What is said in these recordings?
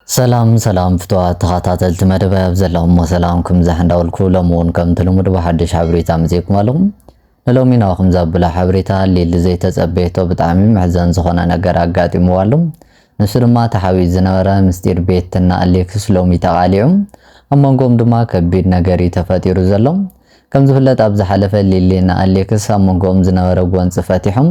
ሰላም ሰላም ፍትዋት ተኻታተልቲ መደበይ ኣብ ዘለኹሞ ሰላምኩም ይብዛሕ እንዳበልኩ ሎሚ እውን ከምቲ ልሙድ ብሓድሽ ሓበሬታ መጺእኩም ኣለኹ። ንሎሚ ናባኹም ዘብሎ ሓበሬታ ሊሊ ዘይተጸበየቶ ብጣዕሚ መሕዘን ዝኾነ ነገር ኣጋጢምዋ ኣሎ። ንሱ ድማ ተሓቢኡ ዝነበረ ምስጢር ቤትና ኣሌክስ ሎሚ ተቓሊዑ ኣብ መንጎኦም ድማ ከቢድ ነገር እዩ ተፈጢሩ ዘሎ። ከም ዝፍለጥ ኣብ ዝሓለፈ ሊሊ ንኣሌክስ ኣብ መንጎኦም ዝነበረ ጎንጺ ፈቲሑ፣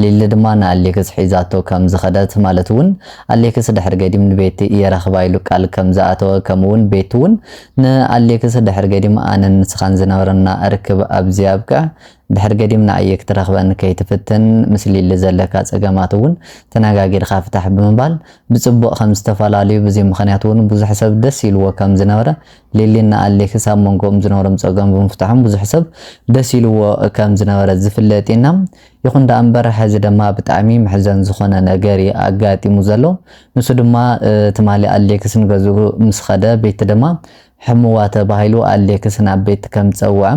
ሊሊ ድማ ንኣሌክስ ሒዛቶ ከም ዝኸደት ማለት እውን ኣሌክስ ድሕሪ ገዲም ንቤቲ እየ ረኽባ ኢሉ ቃል ከም ዝኣተወ ከምኡ እውን ቤቲ እውን ንኣሌክስ ድሕሪ ገዲም ኣነን ንስኻን ዝነበረና ርክብ ኣብዚ ኣብቅዕ ድሕሪ ገዲም ንኣየ ክትረኽበኒ ከይትፍትን ምስ ሊሊ ዘለካ ጸገማት እውን ተነጋጊርካ ፍታሕ ብምባል ብጽቡቕ ከም ዝተፈላልዩ ብዚ ምኽንያት እውን ብዙሕ ሰብ ደስ ኢልዎ ከም ዝነበረ ሊሊን ኣሌክስ ኣብ መንጎኦም ዝነበሮም ጸገም ብምፍታሖም ብዙሕ ሰብ ደስ ኢልዎ ከም ዝነበረ ዝፍለጥ ኢና ይኹን ደኣ እምበር ሕዚ ድማ ብጣዕሚ መሕዘን ዝኾነ ነገር እዩ ኣጋጢሙ ዘሎ ንሱ ድማ ትማሊ ኣሌክስ ንገዝኡ ምስ ኸደ ቤት ድማ ሕሙዋ ተባሂሉ ኣሌክስ ናብ ቤት ከም ዝጸውዐ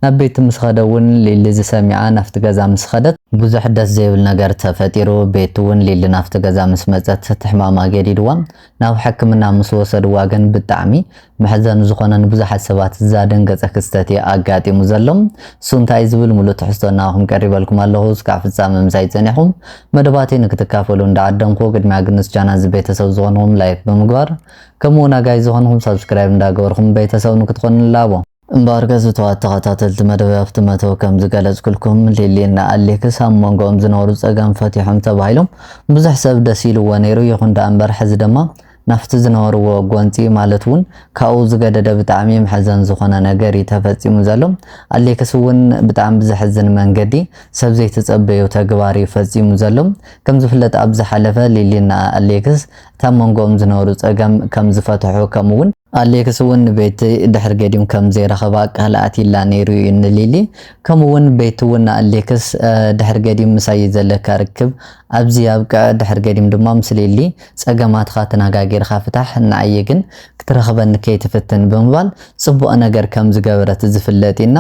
ናብ ቤት ምስ ኸደ እውን ሊሊ ዝሰሚዓ ናፍቲ ገዛ ምስ ኸደት ብዙሕ ደስ ዘይብል ነገር ተፈጢሩ ቤት እውን ሊሊ ናፍቲ ገዛ ምስ መጸት እቲ ሕማማ ገዲድዋ ናብ ሕክምና ምስ ወሰድዋ ግን ብጣዕሚ መሕዘኒ ዝኾነ ንብዙሓት ሰባት ዛደንገጸ ክስተት እየ ኣጋጢሙ ዘሎ። እሱ እንታይ እዩ ዝብል ምሉእ ትሕዝቶ እናበኹም ቀሪበልኩም ኣለኹ። እስካዕ ፍጻመ ምሳይ ጸኒሕኹም መደባተይ ንክትካፈሉ እንዳዓደምኩ ቅድሚያ ግን ምስ ቻናል እዚ ቤተሰብ ዝኾንኹም ላይክ ብምግባር ከምኡ ውን ኣጋይ ዝኾንኹም ሳብስክራይብ እንዳገበርኹም ቤተሰብ ንክትኾኑ ንላቦ። እምበኣር ገዙትዋት ተኸታተልቲ መደበይ ኣብቲ መእተዊ ከም ዝገለጽኩልኩም ሊሊ እና ኣሌክስ ኣብ ሞንጎኦም ዝነበሩ ጸገም ፈቲሖም ተባሂሎም ብዙሕ ሰብ ደስ ኢልዎ ነይሩ ይኹን ደኣ እምበር ሕዚ ድማ ናፍቲ ዝነበርዎ ጎንጺ ማለት እውን ካብኡ ዝገደደ ብጣዕሚ መሕዘን ዝኾነ ነገር እዩ ተፈጺሙ ዘሎ ኣሌክስ እውን ብጣዕሚ ብዘሕዝን መንገዲ ሰብ ዘይተጸበዩ ተግባር እዩ ፈጺሙ ዘሎ ከም ዝፍለጥ ኣብ ዝሓለፈ ሊሊ እና ኣሌክስ እታ ሞንጎኦም ዝነበሩ ጸገም ከም ዝፈትሑ ከምኡ እውን ኣሌክስ ውን ንቤቲ ድሕሪ ገዲም ከም ዘይረኸባ ቃል ኣትይላ ነይሩ ዩ ንሊሊ ከምኡ ውን ቤቲ ውን ንኣሌክስ ድሕሪ ገዲም ምሳይ ዘለካ ርክብ ኣብዚ ኣብቅዕ ድሕሪ ገዲም ድማ ምስ ሊሊ ጸገማትኻ ተናጋጊርኻ ፍታሕ ንዓይ ግን ክትረኽበኒ ከይትፍትን ብምባል ጽቡቅ ነገር ከም ዝገበረት ዝፍለጥ ዩ እና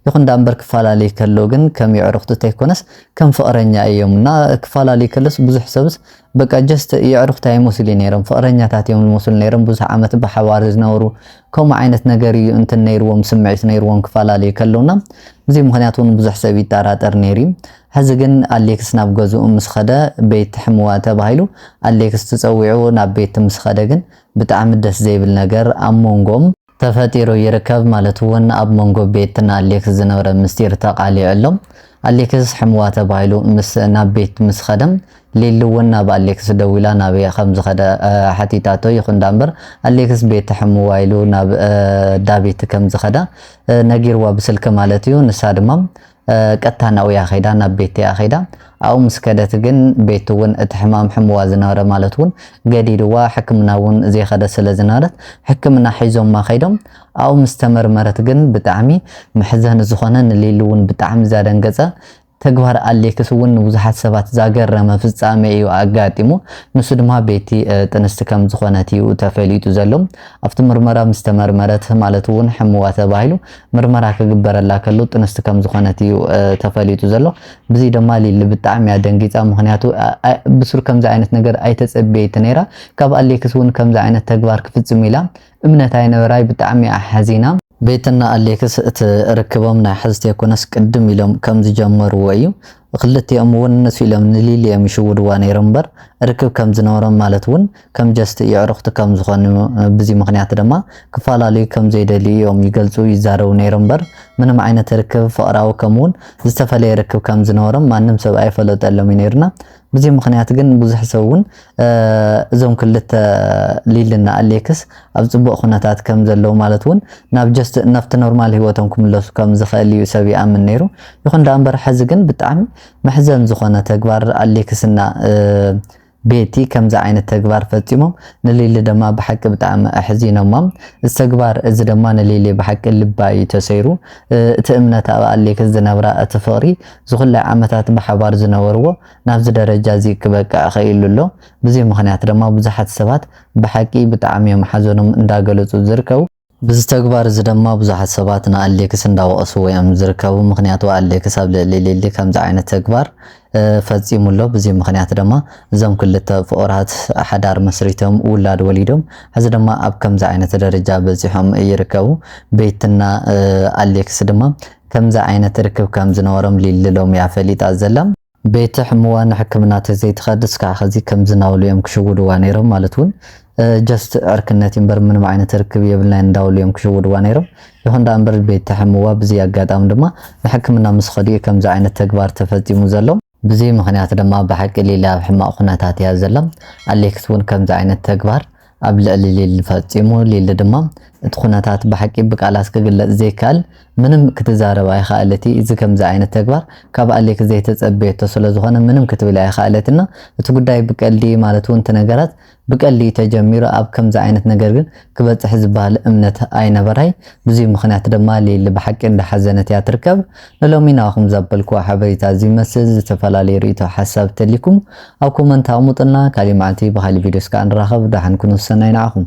ይኹን ዳኣምበር ክፋላለዩ ከለዉ ግን ከም የዕሩኽቱ ተይኮነስ ከም ፍቅረኛ ኢዮም እና ክፋላለዩ ከለስ ብዙሕ ሰብስ በቃ ጀስት የዕሩኽታ ይመስሉ'ዩ ነይሮም ፍቕረኛታት እዮም ዝመስሉ ነይሮም ብዙሕ ዓመት ብሓባር ዝነበሩ ከምኡ ዓይነት ነገር እዩ እንትን ነይርዎም ስምዒት ነይርዎም ክፈላለዩ ከለውና ብዙይ ምኽንያት እውን ብዙሕ ሰብ ይጠራጠር ነይሩ እዩ ሕዚ ግን ኣሌክስ ናብ ገዝኡ ምስ ኸደ ቤት ሕምዋ ተባሂሉ ኣሌክስ ትፀዊዑ ናብ ቤት ምስ ኸደ ግን ብጣዕሚ ደስ ዘይብል ነገር ኣብ ሞንጎም ተፈጢሩ ይርከብ ማለት እውን ኣብ መንጎ ቤት ን ኣሌክስ ዝነበረ ምስጢር ተቃሊዑ ኣሎ። ኣሌክስ ሕምዋ ተባሂሉ ምስ ናብ ቤት ምስ ኸደ ሊሊ እውን ናብ ኣሌክስ ደዊላ ናበይ ኸምዝኸደ ሓቲታቶ ይኹን ዳኣምበር ኣሌክስ ቤት ሕምዋ ኢሉ ናብ ዳቤት ከምዝኸደ ነጊርዋ ብስልኪ ማለት እዩ ንሳ ድማ ቀጥታ ናብኡያ ከይዳ ናብ ቤትቲያ ከይዳ ኣብኡ ምስ ከደት ግን ቤቲ እውን እቲ ሕማም ሕምዋ ዝነበረ ማለት እውን ገዲድዋ ሕክምና እውን ዘይከደት ስለ ዝነበረት ሕክምና ሒዞማ ከይዶም ኣብኡ ምስ ተመርመረት ግን ብጣዕሚ መሕዘኒ ዝኾነ ንሊሊ እውን ብጣዕሚ ዛደንገፀ ተግባር ኣሌክስ እውን ንብዙሓት ሰባት ዛገረመ ፍጻሜ እዩ ኣጋጢሙ ንሱ ድማ ቤቲ ጥንስቲ ከም ዝኾነት እዩ ተፈሊጡ ዘሎ ኣብቲ ምርመራ ምስ ተመርመረት ማለት እውን ሕምዋ ተባሂሉ ምርመራ ክግበረላ ከሉ ጥንስቲ ከም ዝኾነት እዩ ተፈሊጡ ዘሎ። ብዚ ደማ ሊሊ ብጣዕሚ እያ ደንጊጻ ምኽንያቱ ብሱር ከምዚ ዓይነት ነገር ኣይተጸብየት ነይራ ካብ ኣሌክስ ውን ከምዚ ዓይነት ተግባር ክፍጽም ኢላ እምነት ኣይነበራይ ብጣዕሚ እያ ሓዚና። ቤትና ኣሌክስ እቲ ርክቦም ናይ ሐዚ ተይኮነስ ቅድም ኢሎም ከም ዝጀመርዎ እዩ ኽልቲኦም ውን ንሱ ኢሎም ንሊሊ እዮም ይሽውድዋ ነይሮም እምበር ርክብ ከም ዝነበሮም ማለት ውን ከም ጀስት የዕሩኽቲ ከም ዝኾኑ ብዚ ምኽንያት ድማ ክፋላለዩ ከም ዘይደልዩ እዮም ይገልጹ ይዛረቡ ነይሮም እምበር ምንም ዓይነት ርክብ ፍቕራዊ ከም ውን ዝተፈለየ ርክብ ከም ዝነበሮም ማንም ሰብ ኣይፈለጠሎም እዩ ነይሩና ብዚ ምኽንያት ግን ብዙሕ ሰብ ውን እዞም ክልተ ሊሊ እና ኣሌክስ ኣብ ጽቡቅ ኩነታት ከም ዘለዉ ማለት ውን ናብ ጀስት ናብቲ ኖርማል ሂወቶም ክምለሱ ከም ዝክእል እዩ ሰብ ይኣምን ነይሩ ይኹን ደኣ እምበር ሕዚ ግን ብጣዕሚ መሕዘን ዝኾነ ተግባር ኣሌክስ እና ቤቲ ከምዚ ዓይነት ተግባር ፈጺሞም ንሊሊ ደማ ብሓቂ ብጣዕሚ ኣሕዚኖሞም እዚ ተግባር እዚ ደማ ንሊሊ ብሓቂ ልባ እዩ ተሰይሩ እቲ እምነት ኣብ ኣሌክስ ዝነብራ እቲ ፍቅሪ ዝኹላይ ዓመታት ብሓባር ዝነበርዎ ናብዚ ደረጃ እዚ ክበቅዕ ኸኢሉ ኣሎ። ብዚ ምኽንያት ደማ ብዙሓት ሰባት ብሓቂ ብጣዕሚ እዮም ሓዘኖም እንዳገለጹ ዝርከቡ። ብዚ ተግባር እዚ ደማ ብዙሓት ሰባት ንኣሌክስ እንዳወቐስዎ እዮም ዝርከቡ። ምኽንያቱ ኣሌክስ ኣብ ልዕሊ ሊሊ ከምዚ ዓይነት ተግባር ፈጺሙ ኣሎ። ብዚ ምኽንያት ደማ እዞም ክልተ ፍቑራት ሓዳር መስሪቶም ውላድ ወሊዶም ሕዚ ደማ ኣብ ከምዚ ዓይነት ደረጃ በጺሖም ይርከቡ። ቤትና ኣሌክስ ድማ ከምዚ ዓይነት ርክብ ከም ዝነበሮም ሊሊ ሎሚ እያ ፈሊጣ ዘላ። ቤቲ ሕሙዋ ንሕክምና ተዘይ ትኸድ እስካዕ ኸዚ ከምዚ ናበሉ እዮም ክሽውድዋ ነይሮም ማለት ውን ጀስት ዕርክነት እዩ እምበር ምንም ዓይነት ርክብ የብልናን እንዳበሉ እዮም ክሽውድዋ ነይሮም። ይኹን ደኣ እምበር ቤቲ ሕሙዋ ብዚ ኣጋጣሚ ድማ ንሕክምና ምስ ኸዱ እዩ ከምዚ ዓይነት ተግባር ተፈጺሙ ዘሎ። ብዚ ምኽንያት ድማ ብሓቂ ሊሊ ኣብ ሕማቕ ኩነታት እያ ዘላ። ኣሌክስ እውን ከምዚ ዓይነት ተግባር ኣብ ልዕሊ ሊሊ ፈጺሙ። ሊሊ ድማ እቲ ኩነታት ብሓቂ ብቃላት ክግለጽ ዘይከኣል ምንም ክትዛረብ ኣይኸኣለቲ። እዚ ከምዚ ዓይነት ተግባር ካብ ኣሌክስ ዘይተጸበየቶ ስለዝኾነ ምንም ክትብል ኣይኸኣለትን። እቲ ጉዳይ ብቀልዲ ማለት እውን እቲ ነገራት ብቀሊኡ ተጀሚሩ ኣብ ከምዚ ዓይነት ነገር ግን ክበጽሕ ዝበሃል እምነት ኣይነበራይ ብዙይ ምኽንያት ድማ ሊሊ ብሓቂ እንዳ ሓዘነት እያ ትርከብ ንሎሚ ናባኹም ዘበልክዎ ሓበሪታ እዚ ይመስል ዝተፈላለዩ ሪኢቶ ሓሳብ ተልይኩም ኣብ ኮመንት ኣቅሙጥልና ካሊእ ማዓልቲ ብካሊእ ቪድዮስ ካኣ ንራኸብ ዳሓን ኩኑ ሰናይ ናዓኹም።